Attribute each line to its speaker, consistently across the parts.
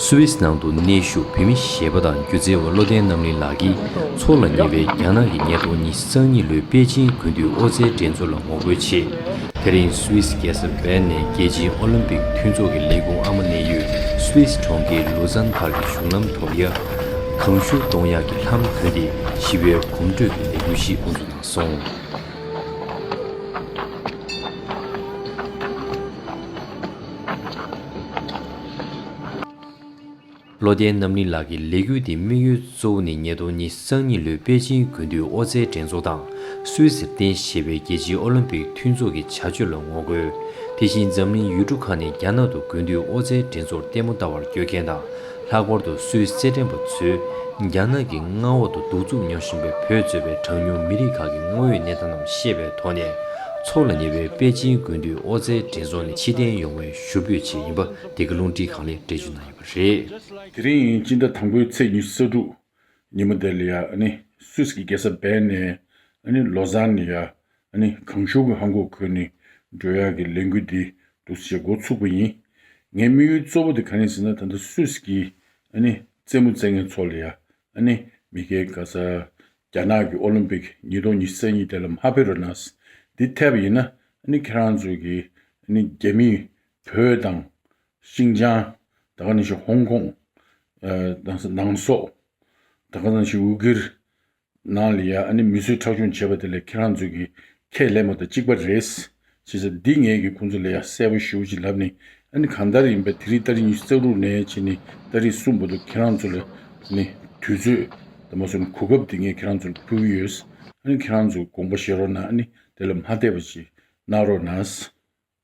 Speaker 1: སུ་ཝེས་ནང་དུ་གནས་བཞུགས་བོད་མི་གཞས་པ་དང་སྒྱུ་རྩལ་བ་བློ་ལྡན་རྣམ་གླིང་ལགས་ཀྱིས་ཚོར་ལ་ཉེ་བའི་རྒྱ་ནག་གི་ཉེས་རྡུང་ཉིས་སྟོང་གཉིས་ལོའི་པེ་ཅིན་དགུན་དུས་ཨོ་རྩལ་འགྲན་ཚོགས་ལ་ངོ་རྒོལ་ཆེད། དེ་རིང་སུའི་སི་རྒྱལ་ས་བྷལ་ནས་རྒྱལ་སྤྱིའི་ཨོ་ལིམ་པིག་མཐུན་ཚོགས་ཀྱི་ལས་ཁུངས་ཨ་མ་གནས་ཡུལ་སུའི་སི་གྲོང་ཁྱེར་ལུ་ཛན་བར་གྱི་གཞུང་ལམ་དོག་ཡ། གངས་ཤུར་གདོང་ཡག་གི་ལྷམ་གྱོན་ཏེ་ཞི་བའི་གོམ་བགྲོད་ཀྱི་ལས་འགུལ་ཞིག་དབུ་འཛུགས་གནང་སོང། བློ་ལྡན་རྣམ་གླིང་ལགས་ཀྱི་ལས་འགུལ་འདིའི་དམིགས་ཡུལ་གཙོ་བོ་ནི་ཉིས་སྟོང་ཉིས་སང་ཉིན་ལོའི་པེ་ཅིན་དགུན་དུས་ཨོ་རྩལ་འགྲན་ཚོགས་དང་སུའུ་ཟིར་ཏན་ཞེས་པའི་རྒྱལ་སྤྱིའི་ཨོ་ལིམ་པིག་མཐུན་ཚོགས་ཀྱི་བྱ་སྤྱོད་ལ་ངོ་རྒོལ། དེ་བཞིན་འཛམ་གླིང་ཡུལ་གྲུ་ཁག་ནས་རྒྱ་ནག་ཏུ་དགུན་དུས་ཨོ་རྩལ་འགྲན་ཚོགས་ལྟད་མོ་ལྟ་བར་བསྐྱོད་མཁན་དང་ལྷག་པར་དུ་སུའུ་རྩེད་འགྲན་པ་ཚོས་རྒྱ་ནག་གི་མངའ་འོག་ཏུ་གདུག་རྩུབ་མྱོང་བཞིན་པའི་བོད་གཙོས་པའི་གྲངས་ཉུང་མི་རིགས་ཁག་གི་དངོས་ཡོད་གནས་སྟངས་རྣམས་ཤེས་པའི་ཐོག་ནས་ཚོགས་ལ་ཉེ་བའི་པེ་ཅིན་དགུན་དུས་ཨོ་རྩལ་འགྲན་ཚོགས་ནས་ཕྱིར་འཐེན་ཡོང་བའི་ཞུ་འབོད་ཆེད་ཡིན་པ་དེ་ག་རླུང་འཕྲིན་གང་ལེགས་སྤྲད་རྒྱུ་གནང་ཡོད། རེད། དེ་རིང་ཉིན་གཅིག་
Speaker 2: ཟླ་དང་པོའི་ཚེས་ཉི་ས་དྲུག་ཉིན་མོ་དེ་ལ་ཡ་ནི Swiss གི་རྒྱལ་ས Bern ནས་ཡ་ནི Lausanne ནི་ཡ་ནི་གངས་ཤུར་གྱི་ཧང་གོག་ཁུལ་ནི་འབྲོས་ཡག་གི་ལས་འགུལ་འདི་འདུག་ཅེས་འགོ་ཚུགས་པ་ཡིན། ངའི་དམིགས་ཡུལ་གཙོ་བོ་དེ་ག་ནི་ཟེར་ན་ད་ལྟ Swiss གི་ཡ་ནི་རྩེད་མོ་རྩེད་མཁན་ཚོ་ལ་ཡ་ནི་མི་སྐད་ག་ས་རྒྱ་ནག་གི་ཨོ་ལིམ་པིག་ཉིས་སྟོང་ཉི་ས་གཉིས་དེ་ལ་མ་ཕེབས་རོགས་གནང། འདི་འཐད་པ་ཡིན་ན་ཡ་ནི་ཁྱེད་རང་ཚོ་གི་ཡ་ནི་རྒྱ་མིས་བོད་དང་ཤིང་ཅང། ད་ག་ནས་ཤིག་ཧོང་ཀོང། དང་སི་ནང་སོག། ད་ག་ནས་ཤིག་ཝུ་གིར། ནང་ལ་ཡ་ཨ་ནི་མི་གསོད་ཁྲག་སྦྱོང་བྱེད་པ་དེ་ལས་ཁྱེད་རང་ཚོས་ཀྱི་ཁས་ལེན་པ་དང་གཅིག་པ་རེད། བྱས་ཚ་འདི་ངས་ཀྱི་ཁོང་ཚོ་ལ་ཡ་གསལ་པོ་ཞུ་ཅིག་ལབ་ནི་ཨ་ནི་གང་ལྟར་ཡིན་པ་དེ་རིགས་ལྟ་རིགས་ཉི་ཤུ་རྩ་དྲུག་ནས་བྱས་ནི་ལྟ་རིགས་གསུམ་པོ་འདུག་ཁྱེད་རང་ཚོ་ལ་ནི་དུས་ཚོད་དང་མ་སོ་ནི་གོ་སྐབས་དེ་ངས་ཁྱེད་རང་ཚོ་ལ་ཕུལ་གྱི་ཡོད། ཨ་ནི་ཁྱེད་རང་ཚོས་དགོངས་པ་བཞེས་རོགས་ན་ཨ་ནི་དེ་ལ་མ་བལྟས་པ་ཅིག་གནང་རོགས་ན།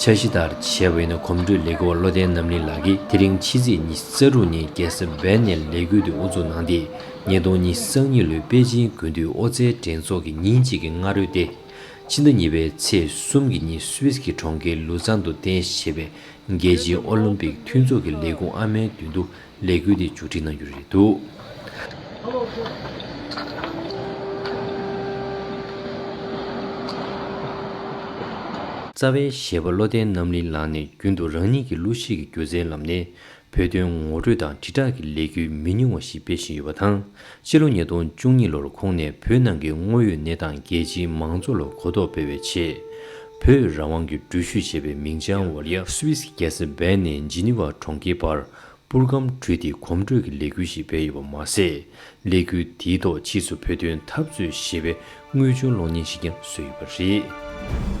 Speaker 1: འཆར་གཞི་ལྟར་བྱས་བས་ན་གོམ་བགྲོད་ལས་ཀའི་བློ་ལྡན་རྣམ་གླིང་ལགས་ཀྱིས་དེ་རིང་ཕྱི་ཚེས་ཉི་ས་དྲུག་ཉིན་རྒྱལ་ས་སྦེལ་ནས་ལས་འགུལ་འདི་དབུ་འཛུགས་གནང་སྟེ་ཉིས་སྟོང་ཉིས་སང་ཉིན་ལོའི་པེ་ཅིན་དགུན་དུས་ཨོ་རྩལ་འགྲན་ཚོགས་ཀྱི་ཉིན་གཅིག་གི་སྔ་རོལ་ཏེ། ཕྱི་ཟླ་གཉིས་པའི་ཚེས་གསུམ་གྱི་ཉིན Swiss གྱི་གྲོང་ཁྱེར་ལུ་ཙཱན་དུ་རྟེན་གཞི་བྱས་པའི་རྒྱལ་སྤྱིའི་ཨོ་ལིམ་པིག་མཐུན་ཚོགས་ཀྱི་ལས་ཁུངས་ཨ་མའི་མདུན་དུ་ལས་འགུལ་འདི་མཇུག་སྒྲིལ་གནང་རྒྱུ་རེད་འདུག། རྩ་བའི་གཞས་པ་བློ་ལྡན་རྣམ་གླིང་ལགས་ནས་རྒྱུན་དུ་རང་ཉིད་ཀྱི་གླུ་གཞས་ཀྱི་སྒྱུ་རྩལ་ལམ་ནས་བོད་དོན་ངོ་སྤྲོད་དང་དྲིལ་བསྒྲགས་ཀྱི་ལས་འགུལ་མི་ཉུང་བ་ཞིག་སྤེལ་བཞིན་ཡོད་པ་དང་སྤྱི་ལོ་ཉིས་སྟོང་བཅུ་གཉིས་ལོར་ཁོང་ནས་བོད་ནང་གི་དངོས་ཡོད་གནས་སྟངས་རྒྱལ་སྤྱིའི་མང་གཙོ་ལ་གོ་རྟོགས་སྤེལ་བའི་ཆེད། བོད་རང་དབང་གི་འགྲུལ་བཞུད་ཅེས་པའི་མིང་བྱང་འོག་རྒྱ་སུད་སི་རྒྱལ་ས་བྷེན་ནས་ཇི་ནི་ཝ་གྲོང་ཁྱེར་བར་པུར་སྒམ་དྲུད་དེ་གོམ་བགྲོད་ཀྱི་ལས་འགུལ་ཞིག་སྤེལ་ཡོད་པ་མ་ཟད། ལས་འགུལ་དེའི་ཐོག་ཕྱིས་སུ་བོད་དོན་འཐབ་རྩོད་ཞེས་པའི་དངོས་བྱུང་གློག་བརྙན་ཞིག་ཀྱང་བཟོས་ཡོད་པ་རེད།